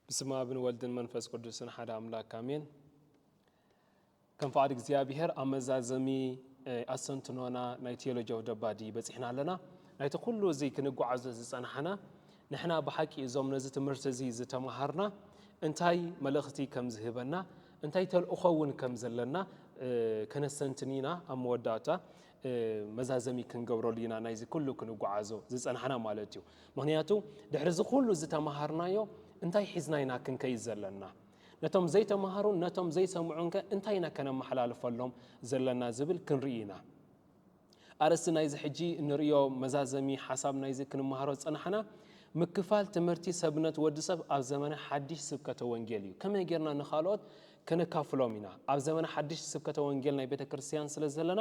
ብስመ ኣብን ወልድን መንፈስ ቅዱስን ሓደ ኣምላክ ኣሜን። ከም ፍቓድ እግዚኣብሄር ኣብ መዛዘሚ ኣሰንትኖና ናይ ቴዎሎጂያዊ ደባዲ በፂሕና ኣለና። ናይቲ ኩሉ እዚ ክንጓዓዞ ዝፀናሕና ንሕና ብሓቂ እዞም ነዚ ትምህርቲ እዚ ዝተመሃርና እንታይ መልእኽቲ ከም ዝህበና እንታይ ተልእኾ እውን ከም ዘለና ከነስተንትን ኢና ኣብ መወዳእታ መዛዘሚ ክንገብረሉ ኢና ናይዚ ኩሉ ክንጓዓዞ ዝፀናሕና ማለት እዩ ምክንያቱ ድሕሪ እዚ ኩሉ ዝተምሃርናዮ እንታይ ሒዝና ኢና ክንከይድ ዘለና ነቶም ዘይተምሃሩን ነቶም ዘይሰምዑን ከ እንታይ ኢና ከነመሓላልፈሎም ዘለና ዝብል ክንርኢ ኢና ኣርእስቲ ናይዚ ሕጂ እንርእዮ መዛዘሚ ሓሳብ ናይዚ ክንመሃሮ ዝጸናሕና ምክፋል ትምህርቲ ሰብነት ወዲ ሰብ ኣብ ዘመነ ሓድሽ ስብከተ ወንጌል እዩ። ከመይ ጌርና ንኻልኦት ከነካፍሎም ኢና? ኣብ ዘመነ ሓድሽ ስብከተ ወንጌል ናይ ቤተ ክርስትያን ስለ ዘለና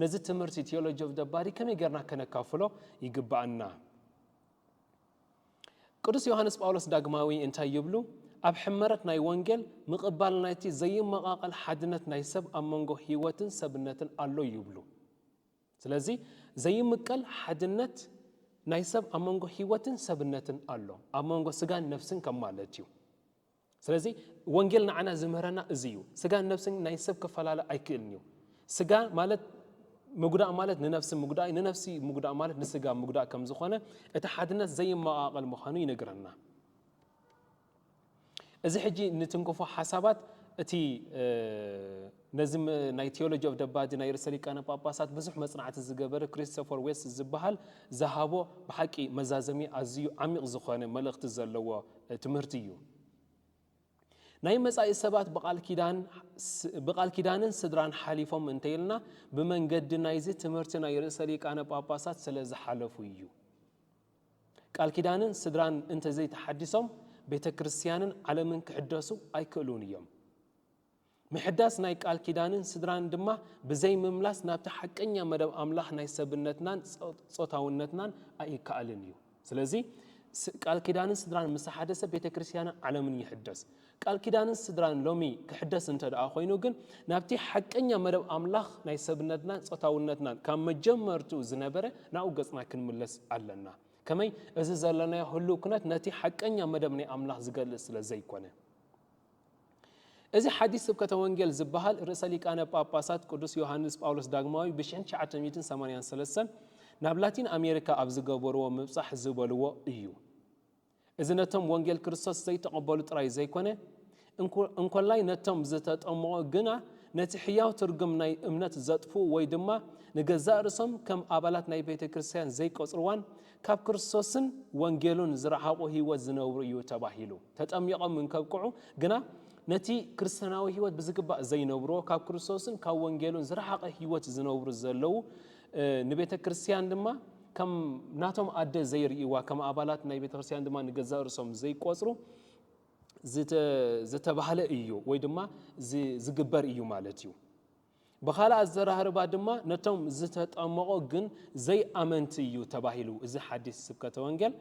ነዚ ትምህርቲ፣ Theology of the Body፣ ከመይ ጌርና ከነካፍሎ ይግብኣና? ቅዱስ ዮሓንስ ጳውሎስ ዳግማዊ እንታይ ይብሉ? ኣብ ሕመረት ናይ ወንጌል ምቕባል ናይቲ ዘይመቓቐል ሓድነት ናይ ሰብ ኣብ መንጎ ሕይወትን ሰብነትን ኣሎ ይብሉ። ስለዚ ዘይምቀል ሓድነት ናይ ሰብ ኣብ መንጎ ሕይወትን ሰብነትን ኣሎ፣ ኣብ መንጎ ስጋን ነፍስን ከም ማለት እዩ። ስለዚ ወንጌል ንዓና ዝምህረና እዚ እዩ። ስጋን ነፍስን ናይ ሰብ ክፈላለ ኣይክእልን እዩ። ስጋ ማለት ምጉዳእ ማለት ንነፍሲ ምጉዳእ እዩ፣ ንነፍሲ ምጉዳእ ማለት ንስጋ ምጉዳእ ከም ዝኾነ እቲ ሓድነት ዘይመቓቐል ምዃኑ ይነግረና። እዚ ሕጂ ንትንክፎ ሓሳባት እቲ ነዚ ናይ ቲዮሎጂ ኦቭ ደባዲ ናይ ርእሰ ሊቃነ ጳጳሳት ብዙሕ መጽናዕቲ ዝገበረ ክሪስቶፈር ዌስ ዝበሃል ዝሃቦ ብሓቂ መዛዘሚ ኣዚዩ ዓሚቕ ዝኾነ መልእኽቲ ዘለዎ ትምህርቲ ኢዩ። ናይ መጻኢ ሰባት ብቓል ኪዳን ብቓል ኪዳንን ስድራን ሓሊፎም እንተ ኢልና ብመንገዲ ናይዚ ትምህርቲ ናይ ርእሰ ሊቃነ ጳጳሳት ስለ ዝሓለፉ ኢዩ። ቃል ኪዳንን ስድራን እንተ ዘይተሓዲሶም ቤተ ክርስትያንን ዓለምን ክሕደሱ ኣይክእሉን ኢዮም። ምሕዳስ ናይ ቃል ኪዳንን ስድራን ድማ ብዘይ ምምላስ ናብቲ ሓቀኛ መደብ ኣምላኽ ናይ ሰብነትናን ጾታውነትናን ኣይከኣልን እዩ። ስለዚ ቃል ኪዳንን ስድራን ምስ ተሓደሰ ቤተ ክርስቲያንን ዓለምን ይሕደስ። ቃል ኪዳንን ስድራን ሎሚ ክሕደስ እንተ ደኣ ኮይኑ ግን ናብቲ ሓቀኛ መደብ ኣምላኽ ናይ ሰብነትናን ጾታውነትናን ካብ መጀመርትኡ ዝነበረ ናብኡ ገጽና ክንምለስ ኣለና። ከመይ እዚ ዘለናዮ ህልው ኩነት ነቲ ሓቀኛ መደብ ናይ ኣምላኽ ዝገልጽ ስለ ዘይኮነ። እዚ ሓዲስ ስብከተ ወንጌል ዝበሃል ርእሰ ሊቃነ ጳጳሳት ቅዱስ ዮሃንስ ጳውሎስ ዳግማዊ ብ1983 ናብ ላቲን ኣሜሪካ ኣብ ዝገበርዎ ምብጻሕ ዝበልዎ እዩ። እዚ ነቶም ወንጌል ክርስቶስ ዘይተቐበሉ ጥራይ ዘይኮነ፣ እንኮላይ ነቶም ዝተጠምቑ ግና ነቲ ሕያው ትርጉም ናይ እምነት ዘጥፍኡ ወይ ድማ ንገዛእ ርእሶም ከም ኣባላት ናይ ቤተ ክርስቲያን ዘይቆጽርዋን ካብ ክርስቶስን ወንጌሉን ዝረሓቑ ህይወት ዝነብሩ እዩ ተባሂሉ። ተጠሚቖም እንከብቅዑ ግና ነቲ ክርስቲያናዊ ሕይወት ብዝግባእ ዘይነብሩዎ ካብ ክርስቶስን ካብ ወንጌሉን ዝረሓቐ ሕይወት ዝነብሩ ዘለዉ ንቤተ ክርስቲያን ድማ ከም ናቶም ኣደ ዘይርእይዋ ከም ኣባላት ናይ ቤተ ክርስቲያን ድማ ንገዛእ ርእሶም ዘይቆጽሩ ዝተባህለ እዩ ወይ ድማ ዝግበር እዩ ማለት እዩ። ብኻልእ ኣዘራርባ ድማ ነቶም ዝተጠመቑ ግን ዘይኣመንቲ እዩ ተባሂሉ። እዚ ሓዲስ ስብከተ ወንጌል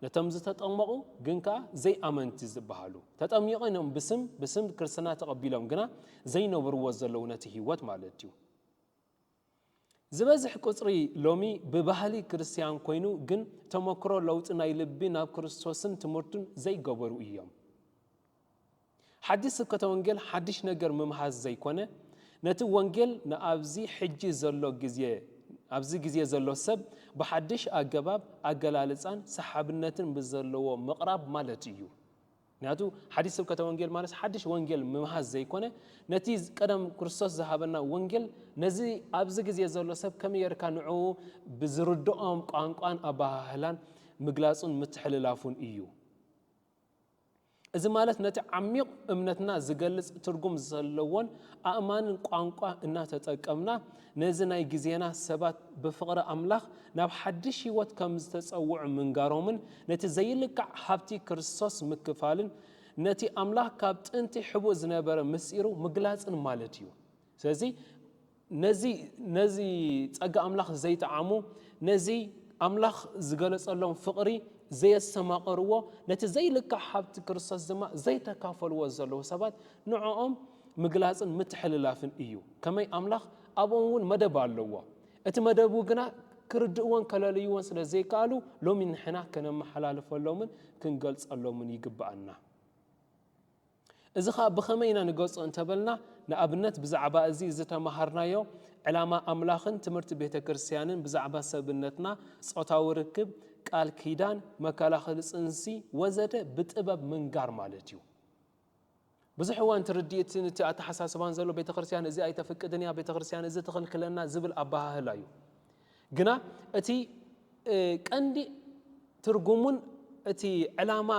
ነቶም ዝተጠመቑ ግን ከኣ ዘይኣመንቲ ዝበሃሉ ተጠሚቕም እዮም ብስም ብስም ክርስትና ተቐቢሎም ግና ዘይነብርዎ ዘለዉ ነቲ ህይወት ማለት እዩ። ዝበዝሕ ቁጽሪ ሎሚ ብባህሊ ክርስትያን ኮይኑ ግን ተመክሮ ለውጢ ናይ ልቢ ናብ ክርስቶስን ትምህርቱን ዘይገበሩ እዮም። ሓዲስ ስብከተ ወንጌል ሓዲሽ ነገር ምምሃዝ ዘይኮነ ነቲ ወንጌል ንኣብዚ ሕጂ ዘሎ ግዜ ኣብዚ ግዜ ዘሎ ሰብ ብሓዲሽ ኣገባብ ኣገላልጻን ሰሓብነትን ብዘለዎ ምቕራብ ማለት እዩ። ምክንያቱ ሓዲስ ስብከተ ወንጌል ማለት ሓዲሽ ወንጌል ምምሃዝ ዘይኮነ ነቲ ቀደም ክርስቶስ ዝሃበና ወንጌል ነዚ ኣብዚ ግዜ ዘሎ ሰብ ከመይ ጌርካ ንዕኡ ብዝርድኦም ቋንቋን ኣበሃህላን ምግላጹን ምትሕልላፉን እዩ። እዚ ማለት ነቲ ዓሚቕ እምነትና ዝገልጽ ትርጉም ዘለዎን ኣእማንን ቋንቋ እናተጠቀምና ነዚ ናይ ግዜና ሰባት ብፍቕሪ ኣምላኽ ናብ ሓድሽ ሕይወት ከም ዝተጸውዑ ምንጋሮምን ነቲ ዘይልካዕ ሃብቲ ክርስቶስ ምክፋልን ነቲ ኣምላኽ ካብ ጥንቲ ሕቡእ ዝነበረ ምስጢሩ ምግላጽን ማለት እዩ። ስለዚ ነዚ ነዚ ጸጋ ኣምላኽ ዘይጠዓሙ ነዚ ኣምላኽ ዝገለጸሎም ፍቕሪ ዘየሰማቐርዎ ነቲ ዘይልካዕ ሃብቲ ክርስቶስ ድማ ዘይተካፈልዎ ዘለዉ ሰባት ንዕኦም ምግላጽን ምትሕልላፍን እዩ ከመይ ኣምላኽ ኣብኦም እውን መደብ ኣለዎ እቲ መደቡ ግና ክርድእዎን ከለልይዎን ስለ ዘይከኣሉ ሎሚ ንሕና ከነመሓላልፈሎምን ክንገልጸሎምን ይግብኣና እዚ ኸኣ ብኸመይ ኢና ንገጾ እንተበልና ንኣብነት ብዛዕባ እዚ ዝተማሃርናዮ ዕላማ ኣምላኽን ትምህርቲ ቤተ ክርስትያንን ብዛዕባ ሰብነትና ጾታዊ ርክብ ቃል ኪዳን መከላኸሊ ጽንሲ ወዘተ ብጥበብ ምንጋር ማለት እዩ ብዙሕ እዋን እቲ ርድኢትን እቲ ኣተሓሳስባን ዘሎ ቤተ ክርስትያን እዚ ኣይተፍቅድን እያ ቤተ ክርስትያን እዚ ትኽልክለና ዝብል ኣበሃህላ እዩ ግና እቲ ቀንዲ ትርጉሙን እቲ ዕላማ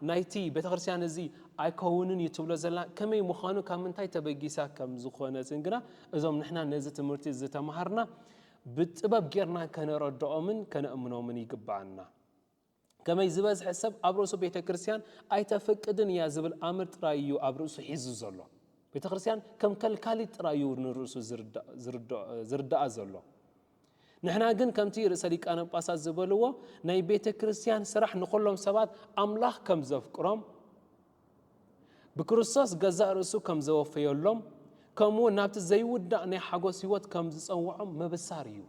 ናይቲ ቤተክርስትያን እዚ ኣይከውንን እዩ ትብሎ ዘላ ከመይ ምዃኑ ካብ ምንታይ ተበጊሳ ከም ዝኾነትን ግና እዞም ንሕና ነዚ ትምህርቲ ዝተማሃርና ብጥበብ ጌርና ከነረድኦምን ከነእምኖምን ይግብኣና። ከመይ ዝበዝሐ ሰብ ኣብ ርእሱ ቤተ ክርስቲያን ኣይተፍቅድን እያ ዝብል ኣምር ጥራይ እዩ ኣብ ርእሱ ሒዙ ዘሎ። ቤተ ክርስቲያን ከም ከልካሊት ጥራይ እዩ ንርእሱ ዝርዳኣ ዘሎ። ንሕና ግን ከምቲ ርእሰ ሊቃነ ጳጳሳት ዝበልዎ ናይ ቤተ ክርስቲያን ስራሕ ንዅሎም ሰባት ኣምላኽ ከም ዘፍቅሮም ብክርስቶስ ገዛእ ርእሱ ከም ዘወፈዮሎም፣ ከምኡውን ናብቲ ዘይውዳእ ናይ ሓጐስ ህይወት ከም ዝጸውዖም ምብሳር እዩ።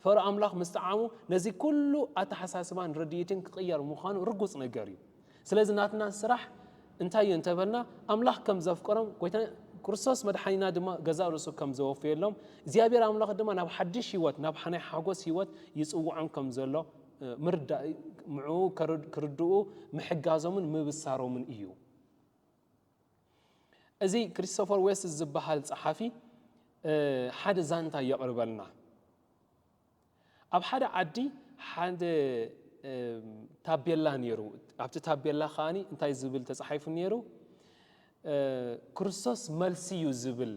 ፈሮ ኣምላኽ ምስ ጠዓሙ ነዚ ኩሉ ኣተሓሳስባን ርድኢትን ክቕየር ምዃኑ ርጉጽ ነገር እዩ። ስለዚ ናትና ስራሕ እንታይ እዩ እንተ በልና፣ ኣምላኽ ከም ዘፍቅሮም ጎይታና ክርስቶስ መድሓኒና ድማ ገዛእ ርእሱ ከም ዘወፈየሎም፣ እግዚኣብሔር ኣምላኽ ድማ ናብ ሓድሽ ህይወት፣ ናብ ናይ ሓጐስ ህይወት ይጽውዖም ከም ዘሎ ምርዳእ ምዕኡ ክርድኡ ምሕጋዞምን ምብሳሮምን እዩ። እዚ ክሪስቶፈር ዌስት ዝበሃል ጸሓፊ ሓደ ዛንታ የቕርበልና። ኣብ ሓደ ዓዲ ሓደ ታቤላ ነይሩ። ኣብቲ ታቤላ ከኣ እንታይ ዝብል ተጻሒፉ ነይሩ? ክርስቶስ መልሲ እዩ ዝብል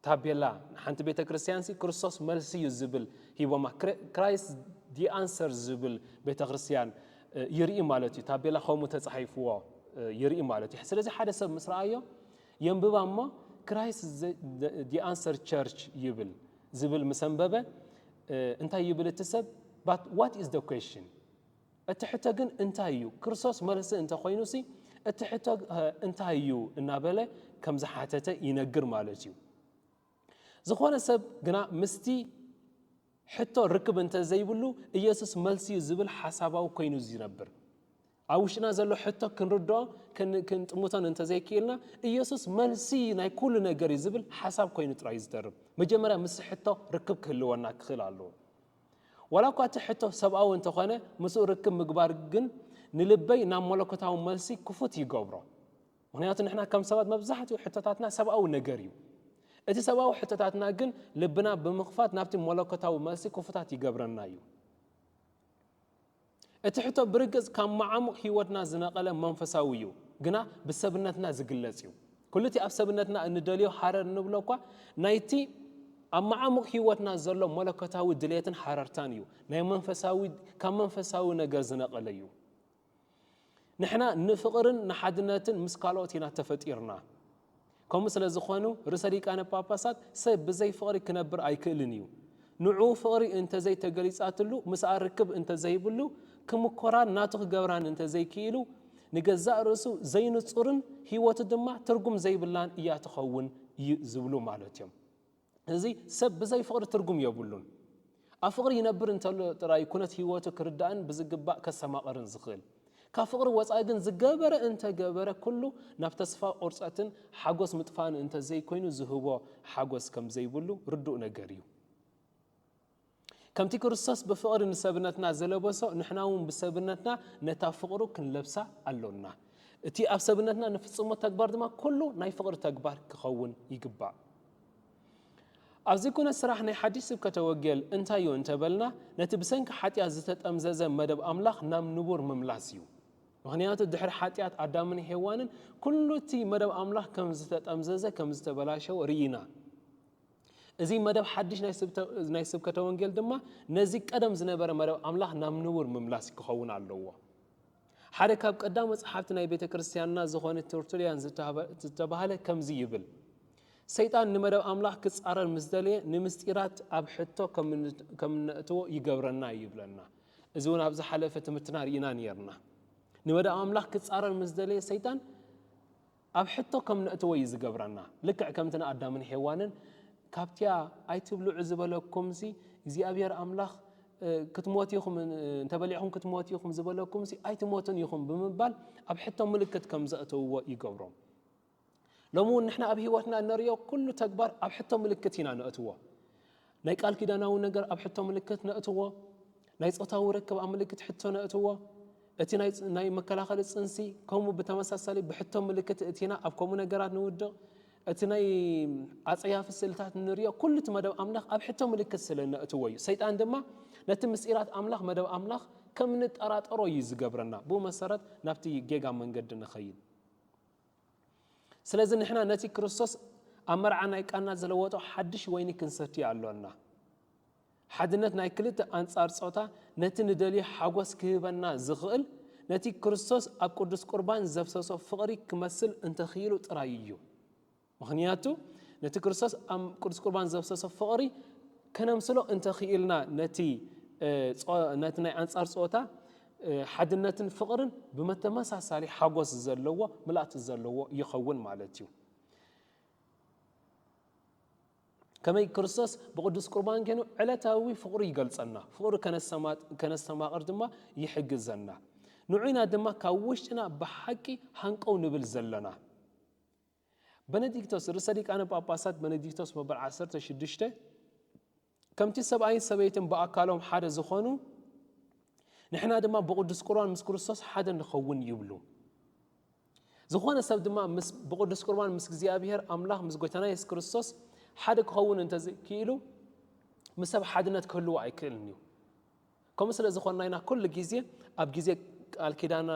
ታቤላ ንሓንቲ ቤተ ክርስትያንሲ ክርስቶስ መልሲ እዩ ዝብል ሂቦማ ክራይስት ዲ ኣንሰር ዝብል ቤተ ክርስትያን ይርኢ ማለት እዩ ታቤላ ከምኡ ተፃሒፍዎ ይርኢ ማለት እዩ ስለዚ ሓደ ሰብ ምስ ረኣዮ የንብባ እሞ ክራይስት ዲ ኣንሰር ቸርች ይብል ዝብል ምስ ኣንበበ እንታይ ይብል እቲ ሰብ ዋት ኢዝ ደ ኩዌሽን እቲ ሕቶ ግን እንታይ እዩ? ክርስቶስ መልሲ እንተ ዀይኑሲ፣ እቲ ሕቶ እንታይ እዩ? እናበለ ከም ዝሓተተ ይነግር ማለት እዩ። ዝዀነ ሰብ ግና ምስቲ ሕቶ ርክብ እንተ ዘይብሉ፣ ኢየሱስ መልሲ እዩ ዝብል ሓሳባዊ ኰይኑ እዩ ዝነብር። ኣብ ውሽጥና ዘሎ ሕቶ ክንርድኦ ክንጥምቶን እንተ ዘይክኢልና፣ ኢየሱስ መልሲ ናይ ኵሉ ነገር እዩ ዝብል ሓሳብ ኰይኑ ጥራይ እዩ ዝተርፍ። መጀመርያ ምስቲ ሕቶ ርክብ ክህልወና ክኽእል ኣለዎ። ዋላ እኳ እቲ ሕቶ ሰብኣዊ እንተ ዀነ፣ ምስኡ ርክብ ምግባር ግን ንልበይ ናብ መለኮታዊ መልሲ ክፉት ይገብሮ። ምኽንያቱ ንሕና ከም ሰባት መብዛሕትኡ ሕቶታትና ሰብኣዊ ነገር ኢዩ። እቲ ሰብኣዊ ሕቶታትና ግን ልብና ብምኽፋት ናብቲ መለኮታዊ መልሲ ክፉታት ይገብረና ኢዩ። እቲ ሕቶ ብርግጽ ካብ መዓሙቕ ህይወትና ዝነቐለ መንፈሳዊ እዩ፣ ግና ብሰብነትና ዝግለጽ እዩ። ኵሉ እቲ ኣብ ሰብነትና እንደልዮ ሃረር እንብሎ እኳ ናይቲ ኣብ መዓሙቕ ህይወትና ዘሎ መለኮታዊ ድሌትን ሃረርታን እዩ፣ ናይ መንፈሳዊ ካብ መንፈሳዊ ነገር ዝነቐለ እዩ። ንሕና ንፍቕርን ንሓድነትን ምስ ካልኦት ኢና ተፈጢርና። ከምኡ ስለ ዝኸኑ ርእሰ ሊቃነ ጳጳሳት ሰብ ብዘይ ፍቕሪ ክነብር ኣይክእልን እዩ። ንዕኡ ፍቕሪ እንተ ዘይተገሊጻትሉ ምስኣ ርክብ እንተ ዘይብሉ ክምኮራን ናቱ ክገብራን እንተ ዘይክኢሉ ንገዛእ ርእሱ ዘይንጹርን ሕይወቱ ድማ ትርጉም ዘይብላን እያ ትኸውን ዝብሉ ማለት እዮም። እዚ ሰብ ብዘይ ፍቕሪ ትርጉም የብሉን። ኣብ ፍቕሪ ይነብር እንተሎ ጥራይ ኩነት ህይወቱ ክርዳእን ብዝግባእ ከሰማቕርን ዝኽእል። ካብ ፍቕሪ ወጻኢ ግን ዝገበረ እንተገበረ ኩሉ ናብ ተስፋ ቁርጸትን ሓጎስ ምጥፋእን እንተዘይኮይኑ ዝህቦ ሓጎስ ከምዘይብሉ ርዱእ ነገር እዩ። ከምቲ ክርስቶስ ብፍቕሪ ንሰብነትና ዝለበሶ፣ ንሕና እውን ብሰብነትና ነታ ፍቕሩ ክንለብሳ ኣሎና። እቲ ኣብ ሰብነትና ንፍጽሞ ተግባር ድማ ኩሉ ናይ ፍቕሪ ተግባር ክኸውን ይግባእ። ኣብዚ ኩነት ስራሕ ናይ ሓድሽ ስብከተ ወንጌል እንታይ እዩ እንተበልና ነቲ ብሰንኪ ሓጢኣት ዝተጠምዘዘ መደብ ኣምላኽ ናብ ንቡር ምምላስ እዩ። ምክንያቱ ድሕሪ ሓጢኣት ኣዳምን ሄዋንን ኩሉ እቲ መደብ ኣምላኽ ከም ዝተጠምዘዘ ከም ዝተበላሸወ ርኢና። እዚ መደብ ሓድሽ ናይ ስብከተ ወንጌል ድማ ነዚ ቀደም ዝነበረ መደብ ኣምላኽ ናብ ንቡር ምምላስ ክኸውን ኣለዎ። ሓደ ካብ ቀዳሞ ጸሓፍቲ ናይ ቤተ ክርስትያንና ዝኾነ ቶርቱልያን ዝተባህለ ከምዚ ይብል ሰይጣን ንመደብ ኣምላኽ ክጻረር ምስ ደልየ ንምስጢራት ኣብ ሕቶ ከም እነእትዎ ይገብረና እዩ ይብለና እዚ እውን ኣብ ዝሓለፈ ትምህርትና ርኢና ነርና ንመደብ ኣምላኽ ክጻረር ምስ ደልየ ሰይጣን ኣብ ሕቶ ከም ነእትዎ እዩ ዝገብረና። ልክዕ ከምቲ ንኣዳምን ሄዋንን ካብቲያ ኣይትብልዑ ዝበለኩምሲ እግዚኣብሄር ኣምላኽ ክትሞቱ ኢኹም እንተበሊዕኹም ክትሞቱ ኢኹም ዝበለኩምሲ ኣይትሞቱን ኢኹም ብምባል ኣብ ሕቶ ምልክት ከም ዘእተውዎ ይገብሮም። ሎሚ እውን ንሕና ኣብ ህይወትና እነርእዮ ኩሉ ተግባር ኣብ ሕቶ ምልክት ኢና ነእትዎ። ናይ ቃል ኪዳናዊ ነገር ኣብ ሕቶ ምልክት ነእትዎ፣ ናይ ጾታዊ ርክብ ኣብ ምልክት ሕቶ ነእትዎ፣ እቲ ናይ መከላኸሊ ጽንሲ ከምኡ ብተመሳሳሊ ብሕቶ ምልክት እእቲና ኣብ ከምኡ ነገራት ንውድቕ፣ እቲ ናይ ኣጸያፊ ስእልታት ንርእዮ ኩሉ እቲ መደብ ኣምላኽ ኣብ ሕቶ ምልክት ስለ ነእትዎ እዩ። ሰይጣን ድማ ነቲ ምስጢራት ኣምላኽ መደብ ኣምላኽ ከም ንጠራጠሮ እዩ ዝገብረና ብኡ መሰረት ናብቲ ጌጋ መንገዲ ንኸይድ። ስለዚ ንሕና ነቲ ክርስቶስ ኣብ መርዓ ናይ ቃና ዝለወጦ ሓድሽ ወይኒ ክንሰቲ ኣሎና። ሓድነት ናይ ክልተ ኣንጻር ጾታ ነቲ ንደልዮ ሓጎስ ክህበና ዝኽእል ነቲ ክርስቶስ ኣብ ቅዱስ ቁርባን ዘፍሰሶ ፍቕሪ ክመስል እንተኽኢሉ ጥራይ እዩ። ምኽንያቱ ነቲ ክርስቶስ ኣብ ቅዱስ ቁርባን ዘፍሰሶ ፍቕሪ ከነምስሎ እንተኽኢልና ነቲ ናይ ኣንጻር ጾታ ሓድነትን ፍቕርን ብመተመሳሳሊ ሓጎስ ዘለዎ ምልኣት ዘለዎ ይኸውን ማለት እዩ። ከመይ ክርስቶስ ብቅዱስ ቁርባን ገይኑ ዕለታዊ ፍቕሩ ይገልጸና፣ ፍቕሩ ከነስተማቕር ድማ ይሕግዘና። ንዑና ድማ ካብ ውሽጥና ብሓቂ ሃንቀው ንብል ዘለና። በነዲክቶስ፣ ርእሰ ሊቃነ ጳጳሳት በነዲክቶስ መበል ዓሰርተ ሽዱሽተ፣ ከምቲ ሰብኣይን ሰበይትን ብኣካሎም ሓደ ዝኾኑ፣ ንሕና ድማ ብቕዱስ ቁርባን ምስ ክርስቶስ ሓደ ንኸውን ይብሉ። ዝኾነ ሰብ ድማ ብቕዱስ ቁርባን ምስ እግዚኣብሔር ኣምላኽ ምስ ጎይታና የሱስ ክርስቶስ ሓደ ክኸውን እንተዘይክኢሉ ምስ ሰብ ሓድነት ክህልዎ ኣይክእልን እዩ። ከምኡ ስለ ዝኾንና ኢና ኩሉ ግዜ ኣብ ግዜ ቃል ኪዳን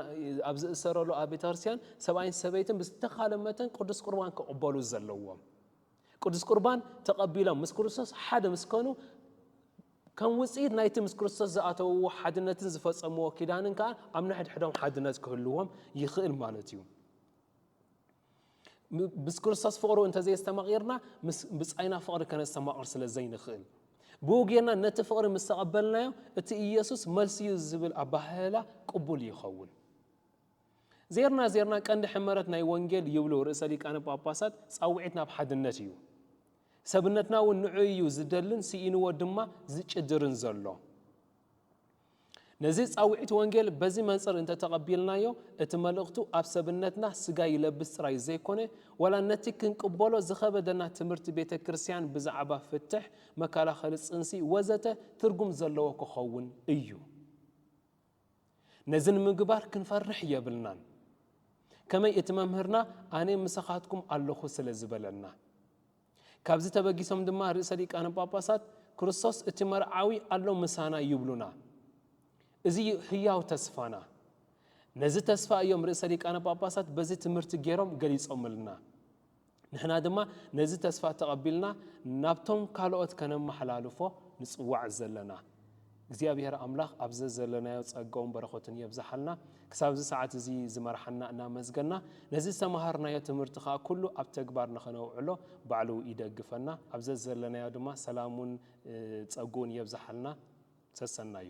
ኣብ ዝእሰረሉ ኣብ ቤተክርስትያን ሰብኣይን ሰበይትን ብዝተኻለ መተን ቅዱስ ቁርባን ክቕበሉ ዘለዎም ቅዱስ ቁርባን ተቐቢሎም ምስ ክርስቶስ ሓደ ምስ ኮኑ ከም ውፅኢት ናይቲ ምስ ክርስቶስ ዝኣተውዎ ሓድነትን ዝፈፀምዎ ኪዳንን ከዓ ኣብ ንሕድሕዶም ሓድነት ክህልዎም ይኽእል ማለት እዩ ምስ ክርስቶስ ፍቕሩ እንተዘየስተማቒርና ምስ ብጻይና ፍቕሪ ከነስተማቕር ስለ ዘይንኽእል ብኡ ጌርና ነቲ ፍቕሪ ምስ ተቐበልናዮ እቲ ኢየሱስ መልሲ እዩ ዝብል ኣባህህላ ቅቡል ይኸውን። ዜርና ዜርና ቀንዲ ሕመረት ናይ ወንጌል ይብሉ ርእሰ ሊቃነ ጳጳሳት ጻውዒት ናብ ሓድነት እዩ ሰብነትና እውን ንዑ እዩ ዝደልን ስኢንዎ ድማ ዝጭድርን ዘሎ ነዚ ጻውዒት ወንጌል በዚ መንጽር እንተ ተቐቢልናዮ፣ እቲ መልእኽቱ ኣብ ሰብነትና ስጋ ይለብስ ጥራይ ዘይኮነ፣ ዋላ ነቲ ክንቅበሎ ዝኸበደና ትምህርቲ ቤተ ክርስቲያን ብዛዕባ ፍትሕ፣ መከላኸሊ ጽንሲ ወዘተ ትርጉም ዘለዎ ክኸውን እዩ። ነዚ ንምግባር ክንፈርሕ የብልናን። ከመይ እቲ መምህርና ኣነ ምሳኻትኩም ኣለኹ ስለ ዝበለና። ካብዚ ተበጊሶም ድማ ርእሰ ሊቃነ ጳጳሳት ክርስቶስ እቲ መርዓዊ ኣሎ ምሳና ይብሉና። እዚ እዩ ህያው ተስፋና። ነዚ ተስፋ እዮም ርእሰ ሊቃነ ጳጳሳት በዚ ትምህርቲ ገይሮም ገሊጾምልና። ንሕና ድማ ነዚ ተስፋ ተቐቢልና ናብቶም ካልኦት ከነመሓላልፎ ንጽዋዕ ዘለና። እግዚኣብሔር ኣምላኽ ኣብ ዘዘለናዮ ጸጋኡን በረኸቱን የብዝሓልና። ክሳብ እዚ ሰዓት እዚ ዝመርሓና እናመስገና ነዚ ዝተመሃርናዮ ትምህርቲ ከኣ ኩሉ ኣብ ተግባር ንኸነውዕሎ ባዕሉ ይደግፈና። ኣብ ዘዘለናዮ ድማ ሰላሙን ጸግኡን የብዝሓልና። ሰሰናዩ።